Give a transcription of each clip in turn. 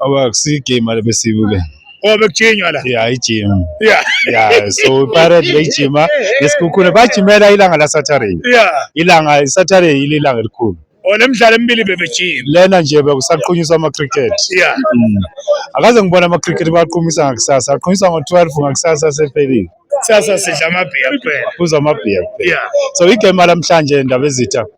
Aba kusiyigame le besibuke. Oh bekujinywa la. Yeah, ijima. Yeah. Yeah, so Pirates beyijima nesikhukhune bajimela ilanga la Saturday. Yeah. Ilanga Saturday yile ilanga elikhulu. Oh nemidlalo emibili bebejima. Lena nje bekusaqunyiswa ama cricket. Yeah. Mm. Akaze ngibona ama cricket baqhumisa ngakusasa. Aqhumisa ngo 12 ngakusasa sephelile. Sasa sidla amabhiya kuphela. Kuza amabhiya. Yeah. So igame lamhlanje ndabezitha.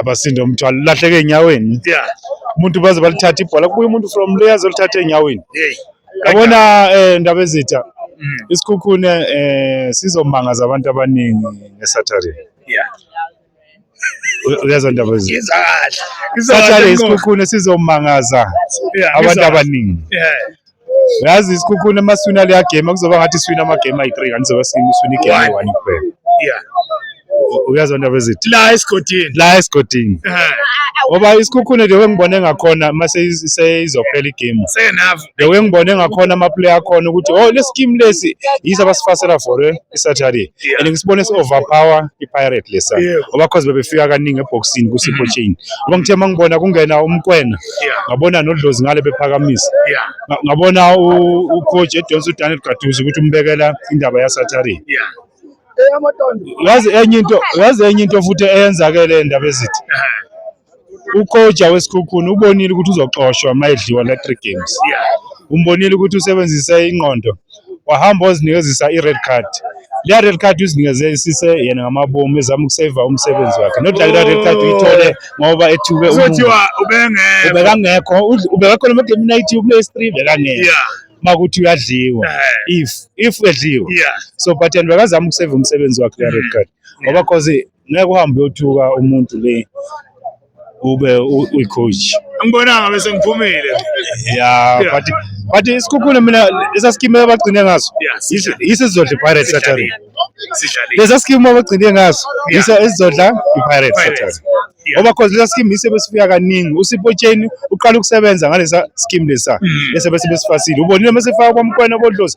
abasinde umthwalo lahleke enyaweni yeah umuntu baze balithatha ibhola kubuye umuntu from le azolithatha enyaweni yabona eh ndaba ezitha mm. isikhukhune eh sizomangaza abantu abaningi ngesaturday yeah uyazwa ndaba ezitha saturday isikhukhune sizomangaza abantu abaningi yeah Yazi isikhukhuni uma siwina leya game kuzoba ngathi siwina amagame ayi-three kanti zobe siwina igame eyi-one kuphela. Yeah. Uyazwa ndaba ezithi la esigodini. La esigodini. Eh. Ngoba isikhukhuni nje wengibone ngakhona uma seyizophela igame. Senavu. Nje wengibone ngakhona amaplayer akhona ukuthi oh lesi game lesi yiso abasifasela for eh, i-Saturday. Yeah. And ngisibone si-overpower i-Pirate lesa. Yeah. Ngoba cause bebefika kaningi eboxini ku-Sipho mm. Chain. Ngoba ngithe uma ngibona kungena umkwena. ngabona nodlozi ngale bephakamisa ngabona ucoach edonsa udaniel gaduzi ukuthi umbekela indaba yasaturday yazi enye into yazi enye into futhi eyenzakele endaba ezithi ucoach wesikhukhuni ubonile ukuthi uzoxoshwa uma edliwa la three games umbonile ukuthi usebenzise ingqondo wahamba wazinikezisa i-red card leya red card uzinikeze isise yena ngamabomu ezama ukuseva umsebenzi wakhe not like that red card uyithole ngoba ethuke uzothiwa ubengekho ubekangekho ubekakho lo mdem night uplay stream bekangekho yeah makuthi uyadliwa eh. if if edliwa yeah so but and bekazama ukuseva umsebenzi wakhe leya red mm. card ngoba cause ngeke uhambe uyothuka umuntu le ube uyi-coach angibonanga bese ngiphumile ya but but isikhukhula mina lesa sikimu abagcine ngaso yiso esizodla i-pirates saturday lesa sikimu abagcine ngaso yiso esizodla i-pirates saturday ngoba cause lesa scheme yise besifika kaningi usipotsheni uqala ukusebenza ngalesa scheme lesa mm. bese bese besifasile ubonile uma sefaka kwamkwena kodlozi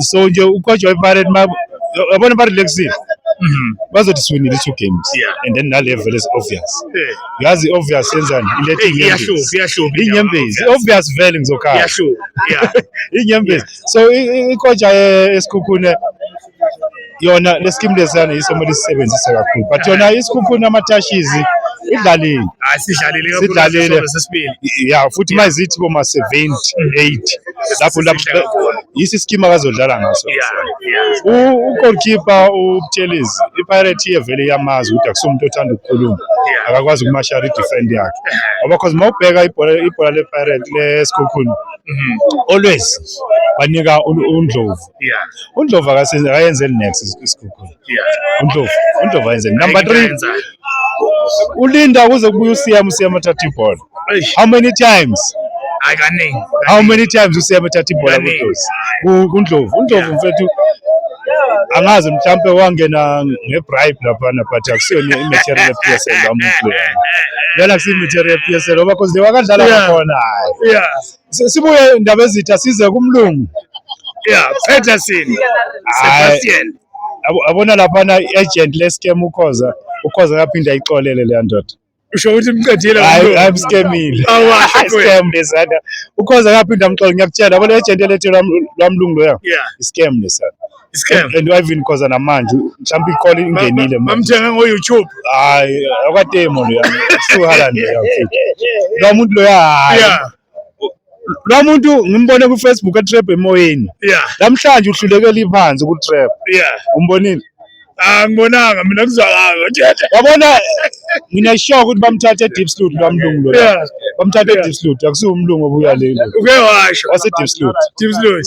so nje ucoach wepirate yabona ba relaxile mhm. bazothi siwinile i-two games and then nalevel is obvious yazi i-obvious yenzani iletheiyanyembezi i-obvious vele ngizokhala inyembezi so ikotsha esikhukhune yona le scheme lesiyana yiso kumele sisebenzise kakhulu but yona isikhukhuni amatashizi idlalile hayi sidlalile kakhulu Sidlalile. ngesizwe sesibili ya futhi uma zithi boma 78 lapho lapho Sihle kakhulu. yisi scheme akazodlala ngaso yeah yeah U- ugoalkeeper ubutshelizi ipirate iye vele iyamazi ukuthi akusumuntu othanda ukukhuluma Yeah. akakwazi ukumashara idefend yakhe ngoba cause uma ubheka ibhola ibhola lepirate lesikhukhuni Mhm. always banika un- undlovu undlovu akase- akayenzeli next is- isikhukhula undlovu undlovu ayenzeli number three ulinda kuze kubuye usiyama usiyama athatha ibhola how many times hayi kaningi how many times usiyama athatha ibhola Kaningi. kudlozi Ku- kundlovu undlovu mfethu angazi mhlampe wangena ngebribe laphana but akusiyona i-material ye-psl wamuflea lena kusiyi-material ye-psl ngoba cause le wakadlala Yeah. kwakhona hayi yeah Sibuye indaba ezitha size kumlungu. Yeah, Peterson. Sebastian. Abona lapha na agent le scam ukhoza. Ukhoza kaphinde ayixolele le ndoda. usho ukuthi umqedile hayi mskemile scam lesana ukhoza kaphinde amxola ngiyakutshela yabo le agent elethe lwamlungu loya scam lesana isikhefu and even cause namanje mhlawumbe iqola ingenile manje bamthenga ngo YouTube hayi akademo lo yami suhala nje lo muntu lo ya lo muntu ngimbone ku Facebook etrap emoyeni namhlanje uhlulekela iphansi ku trap umbonile angibonanga ah, mina kuzwakanga thetha wabona mina sure ukuthi bamthathe deep sloot lo mlungu lo bamthathe deep sloot akusiwo umlungu obuya lelo uke washo wase deep sloot deep sloot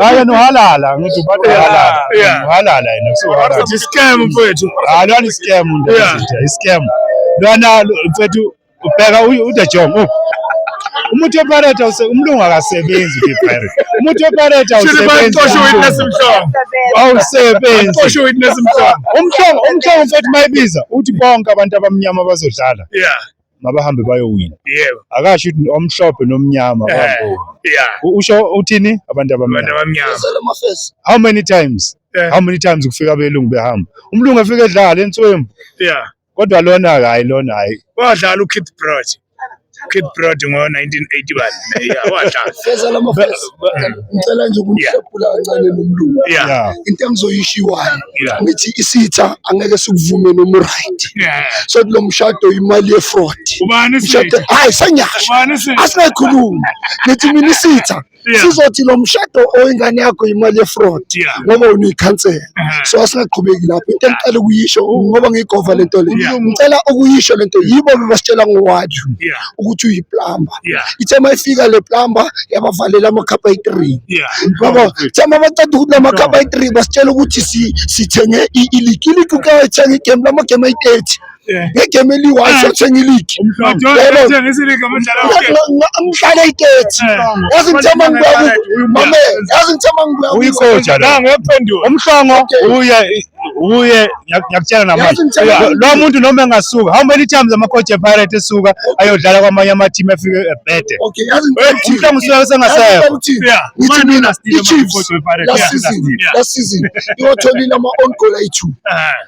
Hayi yena uhalala ngithi ubate uhalala. Yeah. Uhalala yena so uhalala. Wathi scam mfethu. Hayi lona i scam nje Yeah. nje, i scam. Lona lo- mfethu ubheka u- u the jong. oh. Umuntu weparate awuse umlungu akasebenzi the pirate. Umuntu weparate Shini awusebenzi. bayixoshe witness mhlongo. Awusebenzi. Xoshe witness mhlongo. Umhlongo umhlongo mfethu mayibiza uthi bonke abantu abamnyama bazodlala. Yeah. mabahambe bayowina yebo akasho ukuthi omhlophe nomnyama Eh, bayabona. yeah U- usho uthini abantu abantu abamnyama abamnyama Uzele amafesi. how many times Eh. how many times kufika abelungu behamba umlungu efika edlala enswembu yeah kodwa lona hayi lona hayi wadlala uKeith Brod Keith Brod ngo-1981 yeah wadlala Fezela amafesi. ngicela nje ukunihlephula kancane nomlungu yeah into engizoyishiwayo Yeah. ngithi isitha angeke sikuvume noma uright Yeah. so kulo mshado imali yefraud Ubani mshado sitha? hayi sengiyasho Ubani sitha? asinayikhuluma ngithi mina isitha Yeah. sizothi lo mshado oyingane yakho imali yefraud Yeah. ngoba uniyikhansela Uh-huh. so asingaqhubeki lapho into engicela ukuyisho ngoba ngiyigova lento le Yeah. ngicela ukuyisho lento yibo bebasitshela ngowaju Yeah. ukuthi uyiplamba yeah. ithe uma ifika le plamba yabavalela amakhapha ayi-three yeah. baba the uma baceda ukuthi la makhapha ayi-three basitshela ukuthi sithenge iligi iligi ukayithenga igemu la magemu ayi-thirty ngegame eliyi-one siyothenga iligi ngihlale itethi yazi ngithe uma ngibuya mame yazi ngithe uma ngibuya uyikoja la umhlongo uya uye ngiyakutshela namanje lo muntu noma engasuka how many times ama-coach epirate esuka ayodlala kwamanye ama-team afike ebhede umhla ngusuka sengasekho iwatholile ama-on goal ayi-two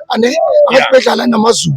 ane abadibedlala namazulu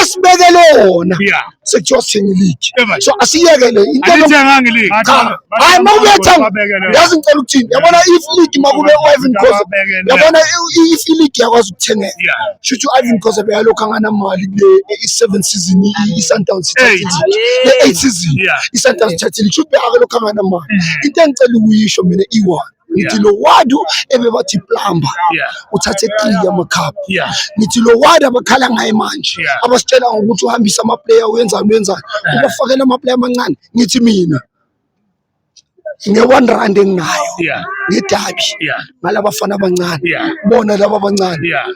esibekele wona sekuthiwa sithenga iligi so asiyekele intolibekele cha hayi uma ubethenga yazi ngicela ukuthini yabona if league uma kube u-ivan cause yabona if iligi yakwazi ukuthengeka shouthi u-ivan cause beyalokhu anganamali kule i-seven season i-sundowns le-eight season i-sundowns thathe league shouthi beyake lokhu anganamali mm. into engicela ukuyisho mina iwani ngithi lo wadu ebebathi plumber uthathe three yamacup ngithi lo wadu abakhala ngaye manje abasitshela ngokuthi uhambisa amaplayer wenzani wenzani ubafakela amaplayer amancane ngithi mina nge-one rand enginayo ngedabi ngalabafana abancane bona laba abancane